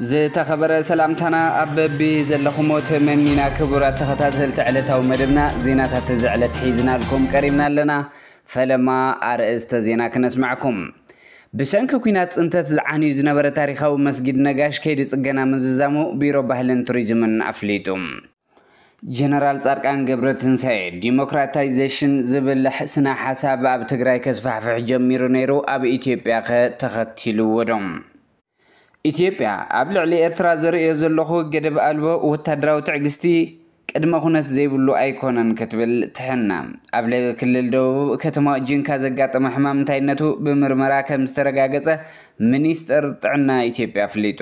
ዝተኸበረ ሰላምታና ኣብ በቢ ዘለኹሞ ተመኒና ክቡራት ተኸታተልቲ ዕለታዊ መደብና ዜናታት እዚ ዕለት ሒዝናልኩም ቀሪብና ኣለና። ፈለማ ኣርእስተ ዜና ክነስማዕኩም። ብሰንኪ ኩናት ፅንተት ዝዓንዩ ዝነበረ ታሪኻዊ መስጊድ ነጋሽ ከይዲ ፅገና ምዝዛሙ ቢሮ ባህልን ቱሪዝምን ኣፍሊጡ። ጀነራል ፃድቃን ገብረትንሳኤ ዲሞክራታይዜሽን ዝብልሕ ስነ ሓሳብ ኣብ ትግራይ ከስፋሕፍሕ ጀሚሩ ነይሩ ኣብ ኢትዮጵያ ከ ተኸቲልዎ ዶ? ኢትዮጵያ ኣብ ልዕሊ ኤርትራ ዘርእዮ ዘለኹ ገደብ ኣልቦ ወታደራዊ ትዕግስቲ ቅድመ ኩነት ዘይብሉ ኣይኮነን ክትብል ትሕነ። ኣብ ለገ ክልል ደቡብ ከተማ ጂንካ ዘጋጠመ ሕማም እንታይነቱ ብምርመራ ከም ዝተረጋገጸ ሚኒስጠር ጥዕና ኢትዮጵያ ኣፍሊጡ።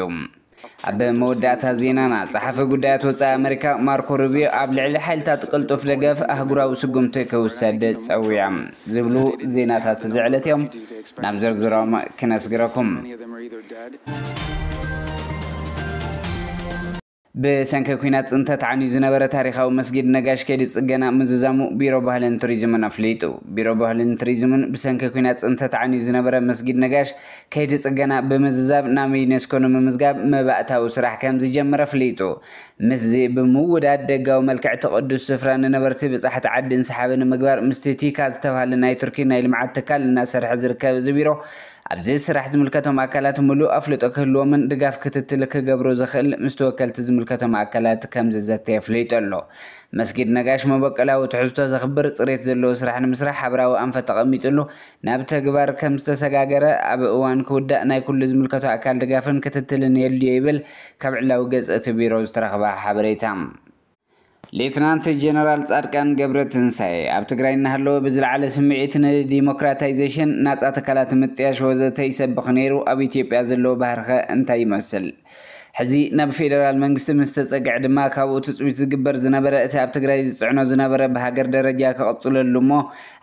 ኣብ መወዳእታ ዜናና፣ ጸሓፊ ጉዳያት ወጻኢ ኣመሪካ ማርኮ ሩቢዮ ኣብ ልዕሊ ሓይልታት ቅልጡፍ ደገፍ ኣህጉራዊ ስጉምቲ ክውሰድ ጸዊዖም ዝብሉ ዜናታት እዚ ዕለት እዮም። ናብ ዝርዝሮም ክነስግረኩም። ብሰንኪ ኲናት ፅንተት ዓንዩ ዝነበረ ታሪኻዊ መስጊድ ነጋሽ ከይዲ ፅገና ምዝዛሙ ቢሮ ባህልን ቱሪዝምን ኣፍሊጡ። ቢሮ ባህልን ቱሪዝምን ብሰንኪ ኲናት ፅንተት ዓንዩ ዝነበረ መስጊድ ነጋሽ ከይዲ ፅገና ብምዝዛብ ናብ ዩኔስኮ ንምምዝጋብ መባእታዊ ስራሕ ከምዝጀመረ ኣፍሊጡ። ምስዚ ብምውዳድ ደጋዊ መልክዕ እቲ ቅዱስ ስፍራ ንነበርቲ ብጻሕቲ ዓዲን ሰሓቢ ንምግባር ምስቲ ቲካ ዝተብሃለ ናይ ቱርኪ ናይ ልምዓት ትካል እናሰርሐ ዝርከብ እዚ ቢሮ ኣብዚ ስራሕ ዝምልከቶም ኣካላት ምሉእ ኣፍልጦ ክህልዎምን ድጋፍ ክትትል ክገብሩ ዝኽእል ምስቲ ወከልቲ ዝምልከቶም ኣካላት ከምዝዘተ የፍሊጡ ኣሎ። መስጊድ ነጋሽ መበቆላዊ ትሕዝቶ ዘኽብር ጽሬት ዘለዎ ስራሕ ንምስራሕ ሓብራዊ ኣንፈት ተቐሚጡሉ ናብ ተግባር ከም ዝተሰጋገረ ኣብ እዋን ክውዳእ ናይ ኩሉ ዝምልከቶ ኣካል ድጋፍን ክትትልን የድልዮ ይብል ካብ ዕላዊ ገፅ እቲ ቢሮ ዝተረኽበ ሓበሬታ። ሌትናንት ጀነራል ፃድቃን ገብረትንሳኤ ኣብ ትግራይ እናሃለወ ብዝለዓለ ስምዒት ንዲሞክራታይዜሽን፣ ናፃ ትካላት ምጥያሽ ወዘተ ይሰብኽ ነይሩ፣ ኣብ ኢትዮጵያ ዘለዎ ባህሪኸ እንታይ ይመስል? ሕዚ ናብ ፌደራል መንግስቲ ምስ ተጸግዐ ድማ ካብኡ ትጽቢት ዝግበር ዝነበረ እቲ ኣብ ትግራይ ዝጽዕኖ ዝነበረ ብሃገር ደረጃ ክቕጽለሉ እሞ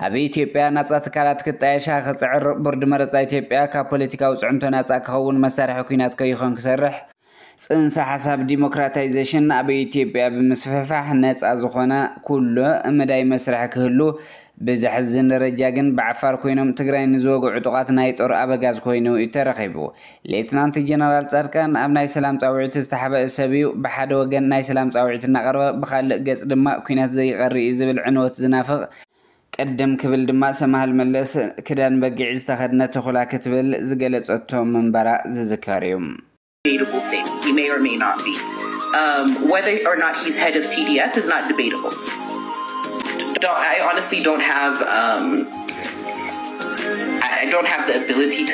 ኣብ ኢትዮጵያ ናጻ ትካላት ክጣየሻ ክጽዕር ቦርድ መረጻ ኢትዮጵያ ካብ ፖለቲካዊ ጽዕንቶ ናጻ ክኸውን መሳርሒ ኩናት ከይኾን ክሰርሕ ጽንሰ ሓሳብ ዲሞክራታይዘሽን ኣብ ኢትዮጵያ ብምስፍሕፋሕ ነጻ ዝኾነ ኩሉ መዳይ መስርሕ ክህሉ ብዘሕዝን ደረጃ ግን ብዓፋር ኮይኖም ትግራይ ንዝወግዑ ዕጡቓት ናይ ጦር ኣበጋዝ ኮይኑ እዩ ተረኺቡ። ሌትናንት ጀነራል ጻድቃን ኣብ ናይ ሰላም ጻውዒት ዝተሓበአ ሰብ'ዩ፣ ብሓደ ወገን ናይ ሰላም ጻውዒት እናቕረበ ብኻልእ ገጽ ድማ ኲናት ዘይቐር'ዩ ዝብል ዕንወት ዝናፍቕ፣ ቅድም ክብል ድማ ሰምሃል መለስ ክዳን በጊዕ ዝተኸድነ ተኹላ ክትብል ዝገለጸቶ ምንባራ ዝዝከር'ዩ።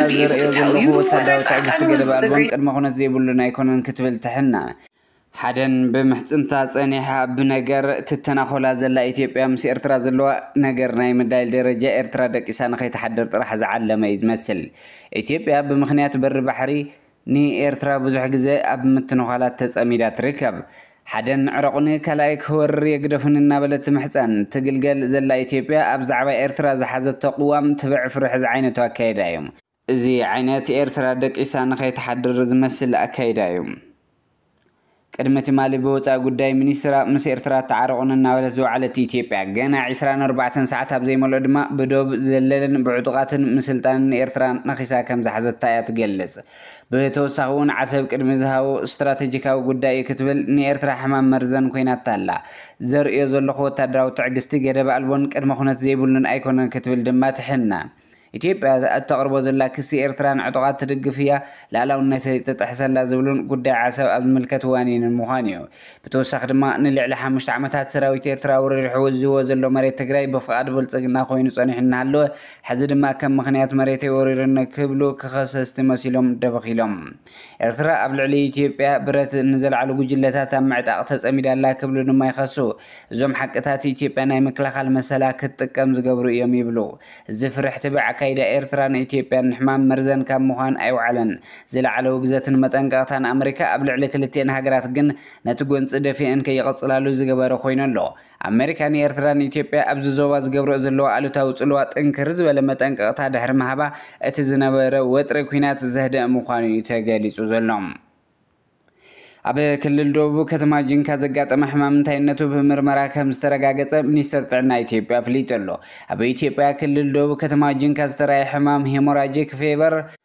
እታ ዝርእዮ ዘለኹ ወታደራዊ ትዕግስቲ ገደብ ኣልቦን ቅድመ ኩነት ዘይብሉን ኣይኮነን ክትብል ትሕና። ሓደን ብምሕጽንታ ጸኒሓ ብነገር ትተናኾላ ዘላ ኢትዮጵያ ምስ ኤርትራ ዘለዋ ነገር ናይ ምዳይል ደረጃ ኤርትራ ደቂሳ ንኸይትሓድር ጥራሕ ዝዓለመ እዩ ዝመስል። ኢትዮጵያ ብምኽንያት በሪ ባሕሪ ንኤርትራ ብዙሕ ግዘ ኣብ ምትንዃላት ተጸሚዳ ትርከብ። ሓደ ንዕረቑኒ ካልኣይ ክወርር የግደፉኒ እናበለት ትምሕጸን ትግልገል ዘላ ኢትዮጵያ ኣብ ዛዕባ ኤርትራ ዝሓዘቶ ቅዋም ትብዕ ፍርሒ ዝዓይነቱ ኣካይዳ እዩ። እዚ ዓይነት ኤርትራ ደቂሳ ንኸይትሓድር ዝመስል ኣካይዳ እዩ። ቅድሚ ትማሊ ብወጻኢ ጉዳይ ሚኒስትራ ምስ ኤርትራ ኣተዓርቑኒ እናበለት ዝወዓለት ኢትዮጵያ፣ ገና ዕስራን ኣርባዕተን ሰዓት ኣብ ዘይመልኦ ድማ ብዶብ ዘለልን ብዕጡቓትን ምስልጣንን ኤርትራ ነኺሳ ከም ዝሓዘታ እያ ትገልጽ። ብተወሳኺ'ውን ዓሰብ ቅድሚ ዝሃቦ ስትራተጂካዊ ጉዳይ እዩ ክትብል ንኤርትራ ሕማም መርዘን ኮይናታ ኣላ። ዘርእዮ ዘለኹ ወተሃደራዊ ትዕግስቲ ገደብ ኣልቦን ቅድመ-ኩነት ዘይብሉን ኣይኮነን ክትብል ድማ ትሕነን። ኢትዮጵያ እተቕርቦ ዘላ ክሲ ኤርትራ ንዕጡቓት ትድግፍ እያ፣ ልኣላውነተይ እትጥሕስ ኣላ ዝብሉን ጉዳይ ዓሰብ ኣብ ዝምልከት ዋኒንን ምዃኑ'ዩ። ብተወሳኺ ድማ ንልዕሊ ሓሙሽተ ዓመታት ሰራዊት ኤርትራ ኣውረሪሑ ወዚዎ ዘሎ መሬት ትግራይ ብፍቓድ ብልጽግና ኮይኑ ጸኒሑ እናሃለወ ሕዚ ድማ ከም ምኽንያት መሬተይ ወሪሩኒ ክብሉ ክኸሰስቲ መሲሎም ደበኽ ኢሎም ኤርትራ ኣብ ልዕሊ ኢትዮጵያ ብረት ንዘልዓሉ ጉጅለታት ኣብ ምዕጣቕ ተጸሚዳ ኣላ ክብሉ ድማ ይኸሱ። እዞም ሓቅታት ኢትዮጵያ ናይ ምክልኻል መሰላ ክትጥቀም ዝገብሩ እዮም ይብሉ። እዚ ፍርሕ ትብዕ ኣካይዳ ኤርትራ ንኢትዮጵያን ንሕማም መርዘን ካብ ምዃን ኣይውዓለን። ዝለዓለ ውግዘትን መጠንቀቕታን ኣመሪካ ኣብ ልዕሊ ክልቲኤን ሃገራት ግን ነቲ ጎንጺ ደፊኤን ከይቕጽላሉ ዝገበረ ኮይኑ ኣሎ። ኣመሪካ ንኤርትራ ንኢትዮጵያ ኣብዚ ዞባ ዝገብረኦ ዘለዋ ኣሉታዊ ጽልዋ ጥንክር ዝበለ መጠንቀቕታ ድሕሪ ምሃባ እቲ ዝነበረ ወጥሪ ኲናት ዘህደእ ምዃኑ'ዩ ተገሊጹ ዘሎ። ኣብ ክልል ደቡብ ከተማ ጂንካ ዘጋጠመ ሕማም እንታይነቱ ብምርመራ ከም ዝተረጋገጸ ሚኒስቴር ጥዕና ኢትዮጵያ ኣፍሊጡ ኣሎ። ኣብ ኢትዮጵያ ክልል ደቡብ ከተማ ጂንካ ዝተራእየ ሕማም ሄሞራጂክ ፌቨር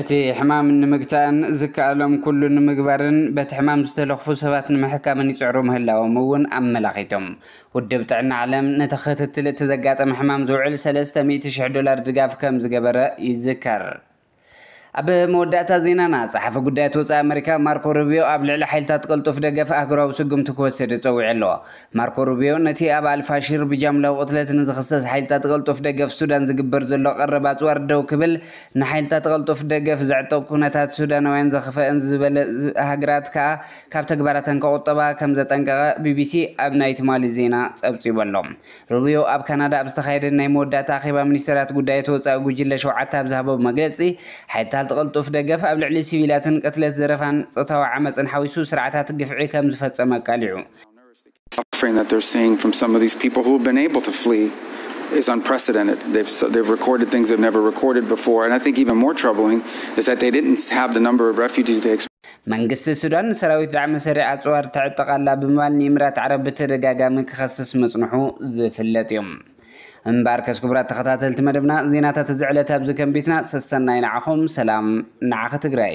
እቲ ሕማም ንምግታእን ዝከኣሎም ኩሉ ንምግባርን በቲ ሕማም ዝተለኽፉ ሰባት ንምሕካምን ይጽዕሩ ምህላዎም እውን ኣመላኺቶም። ውድብ ጥዕና ዓለም ነቲ ክትትል እቲ ዘጋጠመ ሕማም ዝውዕል ሰለስተ ሚእቲ ሽሕ ዶላር ድጋፍ ከም ዝገበረ ይዝከር። ኣብ መወዳእታ ዜናና፣ ጸሓፊ ጉዳያት ወጻኢ ኣመሪካ ማርኮ ሩብዮ ኣብ ልዕሊ ሓይልታት ቅልጡፍ ደገፍ ኣህጉራዊ ስጉምቲ ክወስድ ጸዊዑ ኣሎ። ማርኮ ሩቢዮ ነቲ ኣብ ኣል-ፋሺር ብጃምላዊ ቅትለት ንዝኽሰስ ሓይልታት ቐልጡፍ ደገፍ ሱዳን ዝግበር ዘሎ ቀረብ ኣጽዋር ደው ክብል ንሓይልታት ቐልጡፍ ደገፍ ዘዕጠቕ ኩነታት ሱዳናውያን ዘኽፈእን ዝበለ ሃገራት ከኣ ካብ ተግባራተን ከቑጠባ ከም ዘጠንቀቐ ቢቢሲ ኣብ ናይ ትማሊ ዜና ጸብጺቡ ኣሎ። ሩቢዮ ኣብ ካናዳ ኣብ ዝተኻየደ ናይ መወዳእታ ኣኼባ ሚኒስተራት ጉዳያት ወጻኢ ጉጅለ ሸውዓተ ኣብ ዝሃቦ መግለጺ ሓይልታልት ቐልጡፍ ደገፍ ኣብ ልዕሊ ሲቪላትን ቅትለት ዘረፋን ጾታዊ ዓመጽን ሓዊሱ ስርዓታት ግፍዒ ከም ዝፈጸመ ኣቃሊዑ። መንግስቲ ሱዳን ንሰራዊት ዳዕመ ሰሪዕ ኣጽዋር ተዕጥቕ ኣላ ብምባል ንኢምራት ዓረብ ብተደጋጋሚ ክኸስስ ምጽንሑ ዝፍለጥ እዩ። እምበኣርከስ ክቡራት ተኸታተልቲ መደብና ዜናታት እዚ ዕለት ኣብዚ ከንቢትና ሰሰናዩ ንዓኹም ሰላም ንዓኺ ትግራይ።